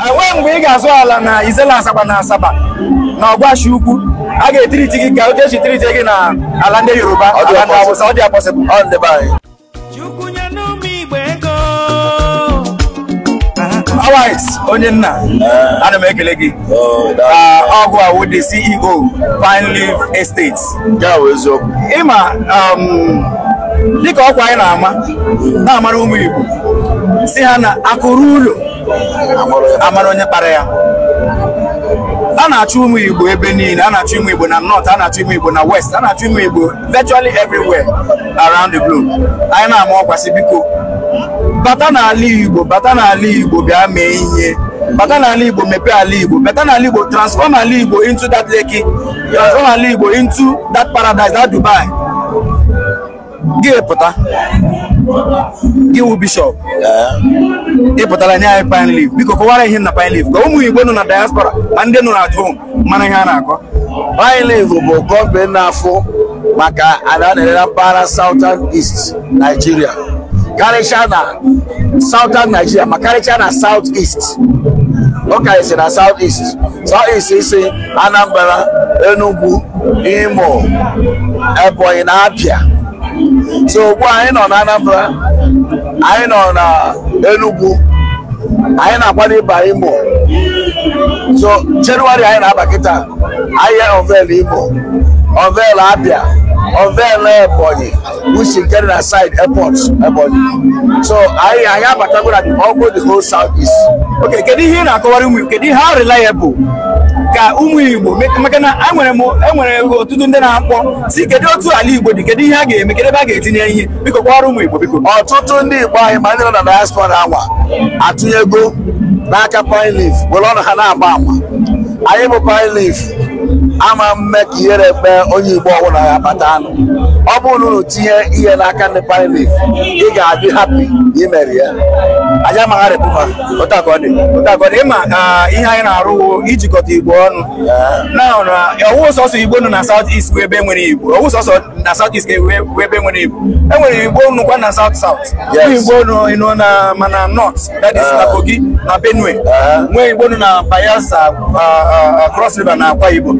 enweghị mgbe ị ga-azụ ala na isele azagba na asaba na ọgwashi ukwu a ga-etiriti gị ka otu esi tiriti gị na ala ndị yoruba Ọ dị ala ndị possible. awụsa ọ dịghị possible ọ ndị be anyị Chukwu nye n'ụmụ Igbo ego. Alex onye nna ana m ekele gị Oh, that- Ah, ọ gị wụ the ceo pine leaf estate nke a bụ eziokwu ịma um, dịka ọkwa anyị na-ama na-amara ụmụ Igbo sị ha na akụ ruo ụlọ a mara onye kpara ya a na-achụ ụmụ Igbo ebe niile a na-achụ ụmụ Igbo na north a na-achụ ụmụ Igbo na west a na-achụ ụmụ Igbo virtually everywhere around the globe anyị na-ama ọkwa sị biko bata n'ala Igbo bata n'ala Igbo bịa mee ihe bata n'ala Igbo mepee ala Igbo bata n'ala Igbo transform ala Igbo into that Lekki Azụ ala Igbo into that paradise that Dubai. Gị pụta. Gị wụ bishọp. Ị pụtala nye anyị pine leaf. Biko kọwara ihe na pine leaf. Ka ụmụ Igbo nọ na diaspora ma ndị nọ na at home mara ihe a na-akọ. Pine leaf bụ kọmpanị na-afụ maka ala a na-ere na mpaghara Southern East Nigeria. Karịchaa na Southern Nigeria ma karịchaa na South East. Ọ karịsịa na South East. States ise Anambra Enugu Imo Ebonyi na Abia so ugbu anyị nọ na Anambra anyị nọ na Enugu anyị na-akwado ịba Imo so Jenụwarị anyị na-aba kịta anyị unveil Imo unveil Abia unveil Ebonyi which is getting beside airport Ebonyi. So anyị anyị abatago na the ọ wụ the whole south east. Okay, kedu ihe ị na-akọwara ụmụ Igbo? Kedu ihe how reliable ka ụmụ Igbo me- maka na enwere m enwere ọtụtụ ndị na-akpọ sị kedu otu ala Igbo dị kedu ihe a ga-eme kedu ebe a ga-etinye ihe biko kọwara ụmụ Igbo biko. Ọtụtụ ndị Igbo anyị ma ndị nọ na diaspora anwa atụnyego n'aka pine leaf were ọnụ ha na-agba ama. Anyị bụ pine leaf ama mme ka ihere mee onye Igbo ọbụla ya bata anụ. ọ bụrụ na unu tinye ihe n'aka ndị pine leaf ị ga-adị happy na i mere ya anyị amaghị arapụ fa otu a ka ọ dị otu a ka ọ dị ịma ah, ihe anyị na-arụ wụ ijikọta igbo ọnụ na na ọ wụghị sọsọ igbo nọ na south east bụ ebe nwere igbo ọ wụghị sọsọ na south east ga-ewe bụ ebe nwere igbo e nwere igbo nọkwa na south south Yes. Nwee igbo nọ na ma na north that is na kogi na benue nwee igbo nọ na bayelsa ah, ah, ah, cross river na akwa ibom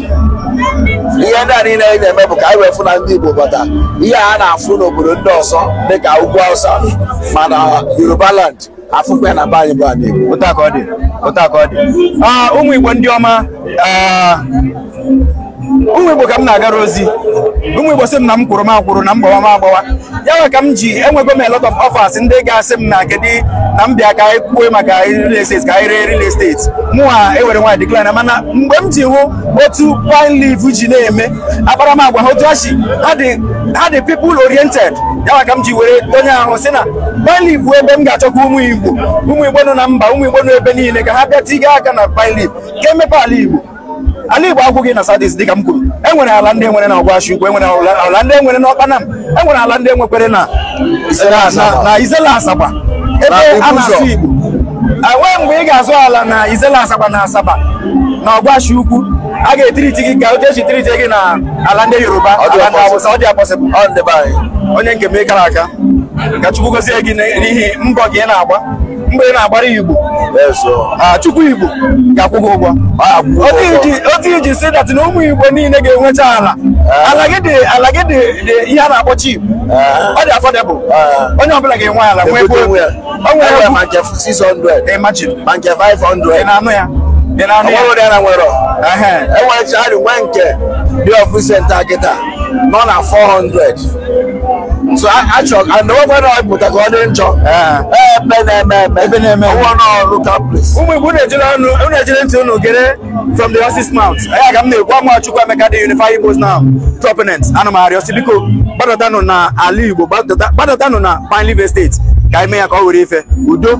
ihe ndị a niile anyị na-eme bụ ka anyị wee fụ na ndị Igbo bata ihe a na-afụ n'obodo ndị ọzọ dịka ugwu Hausa ma na Yoruba land afụkwa ya na be anyị bụ anị Igbo otu a ka ọ dị otu a ka ọ dị Ah, ụmụ igbo ndị ọma ah, ụmụ igbo ka m na-agara ozi ụmụ igbo sị m na m kwụrụ m akwụrụ na m gbawa m agbawa ya nwe ka m ji enwego m a lot of offers ndị ga-asị m na kedu na m bịa ka anyị kwue maka real estate ka anyị ree real estate mụwa ewere nwayọ decline mana mgbe m ji hụ otu pine leaf ji na-eme akparamagwa ha otu ha si ha dị ha dị people oriented ya nwe ka m ji were donye ahụ sị na pine leaf bụ ebe m ga-achọ ka ụmụ igbo ụmụ igbo nọ na mba ụmụ igbo nọ ebe niile ka ha bịa tiga aka na pine leaf ka e mepee ala igbo ala igbo agwụghị na south east dịka m kwuru e nwere ala ndị nwere na ọgwashi ukwu e nwere ala ndị nwere na ọkpanam e nwere ala ndị nwekwere na na issele azagba ebe a na-asụ igbo enwe mgbe ị ga-azụ ala na issele azagba na asaba na ọgwashi ukwu a ga-etreat gị ka otu e si treat gị na ala ndị yoruba ala ndị awụsa ọ dịghị possible onye nke m ị kara aka ka chukwu gozie gị n'ihi mbọ gị ị na-agba mbọ ị na-agbara igbo ah, chukwu igbo ga-akwụ gị ụgwọ otu i ji see that na ụmụ igbo niile ga-enwecha ala eh. ala gị dị ala gị dị ihe a na-akpọ cheap eh. ọ dị affordable eh. onye ọbụla ga-enwe ala nwee ebe onwe ya ma nke 600 imagine ma nke 500 ị na-anụ ya ị na-anụ ya enwere chaarị nwe nke dị ọfụ senta kịta nọ na 400 so achọ anọgwara ọpụta ka ọ dị njọ ebe na-eme eme ebe na-eme ọwụ n'ọrụ kaplis ụmụ igbo na-ejere ọnụ unu ejiri ntị unu gere from the horse's mouth ya ka m na-ekwu ama chukwuemeka the unify igbos now proponent ana m arịọ si biko gbadatanụ na ala igbo gbadatanụ na pine leaf estate ka anyị mee ya ka ọ were ife udo